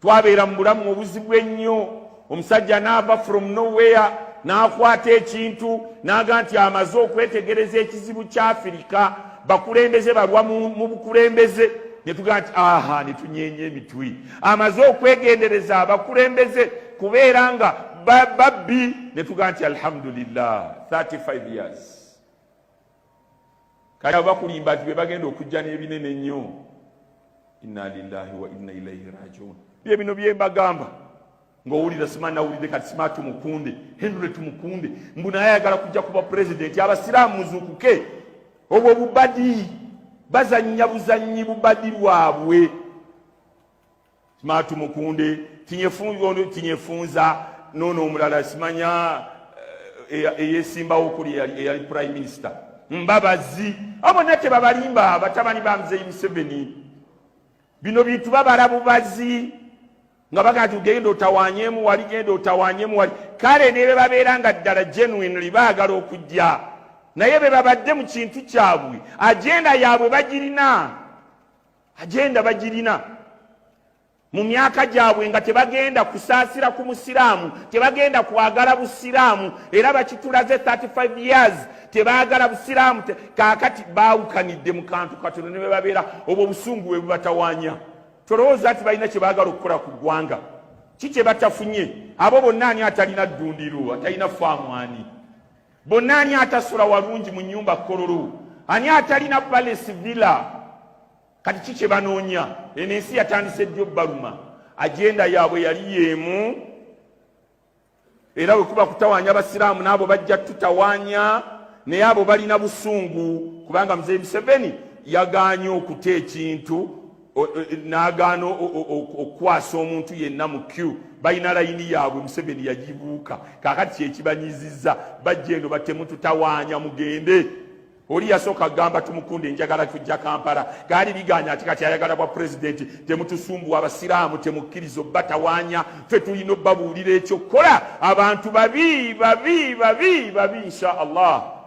twabeera mu bulamu obuzibu ennyo omusajja naava from nowhere n'akwata ekintu n'aga nti amaze okwetegereza ekizibu kya afirika bakulembeze balwa mu bukulembeze ne tugaa nti aha ne tunyeenya emitwe amaze okwegendereza abakulembeze kubeera nga babbi ne tugaa nti alhamdulillah 35 years kale abo bakulimba nti bebagenda okujja n'ebinene nnyo inna lillahi wa inna ilaihi rajiun bye bino bye mbagamba ng'owulira sima nawulidde kati sima tumukunde henry tumukunde mbu naye ayagala kujja kuba pulezidenti abasiraamu muzuukuke obwo bubadi bazannya buzannyi bubadi lwabwe Matu Mukunde Tinyefunza nono omulala simanya eh, eh, eyesimbawo kuli eyali prime minister mbabazi abo nate babalimba batabani ba mzeyi museveni bino bintu babala bubazi nga bagaa ti genda otawanyemu wali genda otawanyemu wali kale nebe babeera nga ddala genuinely baagala okujja naye bebabadde mu kintu kyabwe agenda yaabwe bagirina agenda bagirina mu myaka gyabwe nga tebagenda kusaasira ku musiraamu tebagenda kwagala busiraamu era bakitulaze 35 years tebaagala busiraamu kaakati baawukanidde mu kantu katono ne bebabeera obwo obusungu bwe bubatawanya tolowooza nti balina kye baagala okukola ku ggwanga ki kye batafunye abo bonna ani atalina ddundiro atalina faamwani bonna ani atasula walungi mu nyumba kololo ani atalina palace villa kati ki kye banoonya eno ensi yatandise ddyo baluma ajenda yaabwe yali yeemu era wekuba kutawanya abasiraamu naabo bajja tutawanya naye abo balina busungu kubanga mzee museveni yaganye okuta ekintu n'agaana okukwasa omuntu yenna mu q balina layini yaabwe museveni yagibuuka kakati kyekibanyiziza bajja eno batemututawaanya mugende oli yasooka gamba tumukunde njagala tujja kampala gaali biganya ati kati ayagala bwa pulezidenti temutusumbuwa abasiraamu temukkiriza obbatawanya fe tulina obbabuulira ekyokukola abantu babi babi babi babi insha allah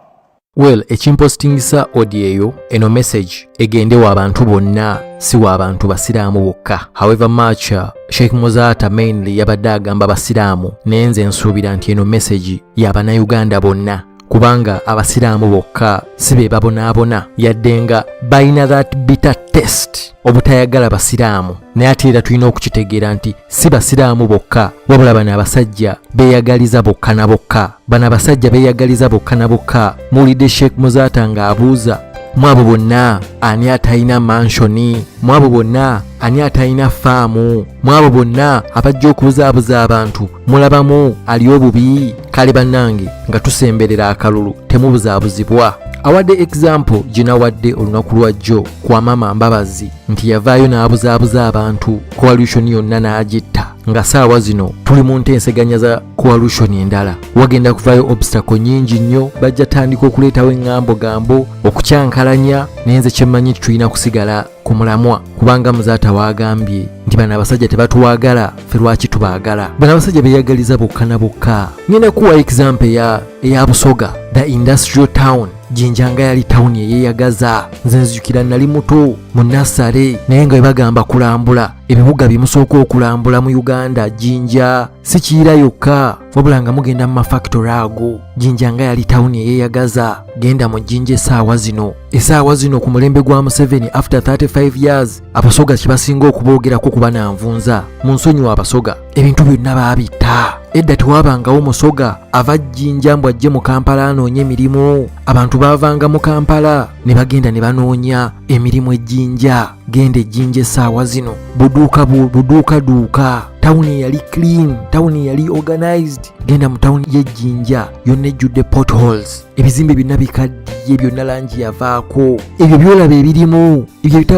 Well, ekimpositingisa audio eyo eno message egende wa bantu bonna si wa bantu basiraamu bokka. However much uh, Sheikh Muzaata mainly yabadde agamba basiraamu, naye nze nsuubira nti eno message ya bannayuganda bonna kubanga abasiraamu bokka si be babonaabona yadde nga balina that bitter test obutayagala basiraamu naye ate era tulina okukitegeera nti si basiraamu bokka wabula bano abasajja beeyagaliza bokka na bokka bano abasajja beeyagaliza bokka na bokka muwulidde sheikh muzaata ng'abuuza mwabo bonna ani atalina manshoni mwabo bonna ani atalina faamu mwabo bonna abajja okubuzaabuza abantu mulabamu ali obubi kale bannange nga tusemberera akalulu temubuzaabuzibwa awadde egizampo ginawadde olunaku lwajjo kwa maama mbabazi nti yavaayo n'abuzaabuza abantu coalition yonna n'agitta nga saawa zino tuli mu ntenseganya za coalition endala wagenda kuvaayo obstacle nyingi nnyo bajja tandika okuleetawo eŋŋambo gambo okukyankalanya nenze kyemmanyi nti tulina kusigala ku mulamwa kubanga muzaata waagambye nti bano abasajja tebatuwaagala fe lwaki tubaagala bano abasajja beyagaliza bokka na bokka ngenda kuwa example eya, eya busoga the industrial town jinja nga yali tawuni eyeyagaza nze nzijukira nali muto mu nasale naye nga webagamba kulambula ebibuga byemusooka okulambula mu uganda jinja si kiyira yokka wabula nga mugenda mu mafactory ago jinja nga yali tawuni eyeyagaza genda mu jinja esaawa zino esaawa zino ku mulembe gwa museveni after 35 years abasoga kyebasinga okuboogerako kuba nanvunza mu nsonyiwa abasoga ebintu byonna baabitta edda tewabangawo musoga ava jjinja mbu ajje mu kampala anoonye emirimu abantu baavanga mu kampala ne bagenda ne banoonya emirimu ejjinja genda ejjinja essaawa zino buduuka buduuka duuka tawuni yali clean tawuni yali organized genda mu tawuni y'ejjinja yonna ejjudde potholes ebizimbe byonna bikaddiye byonna langi yavaako ebyo byolaba ebirimu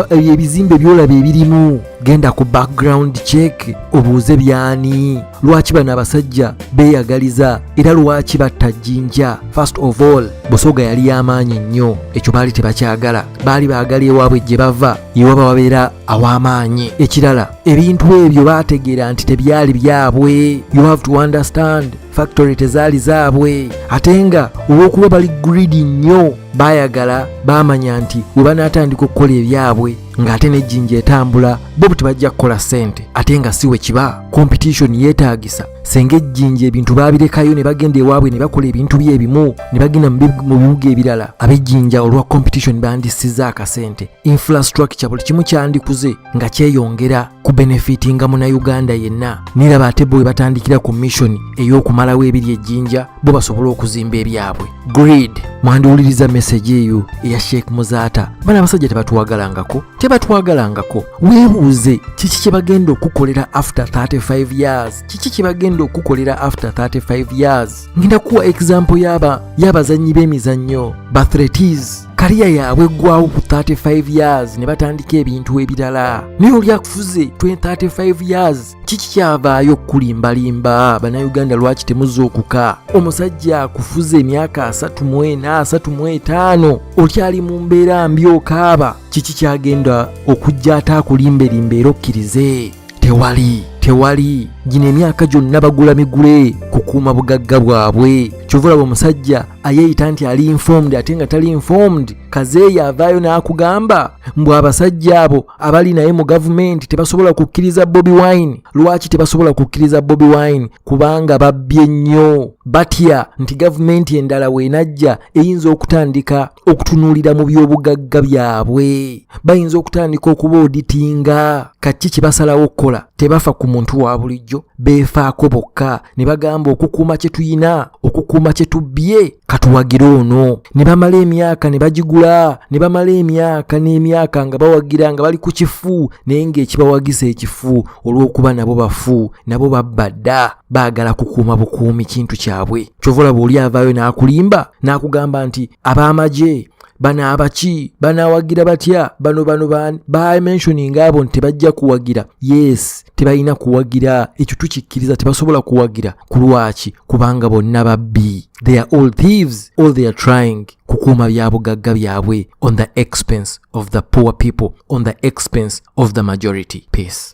ebizimbe byolaba ebirimu genda ku background check obuuze byani lwaki bano abasajja beeyagaliza era lwaki batta jjinja first of all busoga yali y'amaanyi nnyo ekyo baali tebakyagala baali baagala ewaabwe gye bava yewaba wabeera aw'amaanyi ekirala ebintu ebyo baategeera nti tebyali byabwe you have to understand factory tezaali zaabwe ate nga olw'okuba bali gridi nnyo baayagala baamanya nti we banaatandika okukola ebyabwe ng'ate n'ejjinja etambula bo buti bajja kukola ssente ate nga si we kiba competition yeetaagisa senga ejjinja ebintu baabirekayo ne bagenda ewaabwe ne bakola ebintu bye ebimu ne bagenda mu bibuga ebirala ab'ejjinja olwa competition bandisiza akasente infrastructure buli kimu kyandikuze nga kyeyongera ku benefiti nga munauganda yenna niraba ate bo webatandikira ku mission ey'okumalawo ebiri ejjinja bo basobole okuzimba ebyabwe grid mwandiwuliriza meseji eyo eya sheikh muzaata bana abasajja tebatwagalangako tebatwagalangako weebuuze kiki kye bagenda okukolera after 35 years kiki kye bagenda okukolera after 35 years ngenda kuwa example yaba y'abazannyi b'emizannyo bathretis kariya yaabwe eggwawo ku 35 years ne batandika ebintu ebirala naye oli akufuze 35 years kiki kyavaayo okukulimbalimba bannayuganda lwaki temuzuukuka omusajja akufuze emyaka 34 35 okyali mu mbeera mbi okaaba kiki kyagenda okujja ate akulimbelimba era okkirize tewali tewali gino emyaka gyonna bagula migule kukuuma bugagga bwabwe kyova olaba omusajja ayeeyita nti ali informed ate nga tali informed kazeeyo avaayo n'akugamba mbu abasajja abo abali naye mu gavumenti tebasobola kukkiriza bobi wine lwaki tebasobola kukkiriza bobi wine kubanga babbye nnyo batya nti gavumenti endala weenajja eyinza okutandika okutunuulira mu by'obugagga byabwe bayinza okutandika okuba oditinga kaki kye basalawo okukola tebafa ku muntu wa bulijjo beefaako bokka ne bagamba okukuuma kye tuyina okukuuma kye tubbye katuwagire ono ne bamala emyaka ne bagigula ne bamala emyaka n'emyaka nga bawagira nga bali ku kifu naye ng'ekibawagiza ekifu olw'okuba nabo bafu nabo babba dda baagala kukuuma bukuumi kintu kyabwe kyovulaba oli avaayo n'akulimba n'akugamba nti ab'amagye bano abaki banawagira batya bano bano bani bamentioninga abo nti tebajja kuwagira yes tebalina kuwagira ekyo tukikkiriza tebasobola kuwagira ku lwaki kubanga bonna babbi they are all thieves all they are trying kukuuma byabugagga byabwe on the expense of the poor people on the expense of the majority peace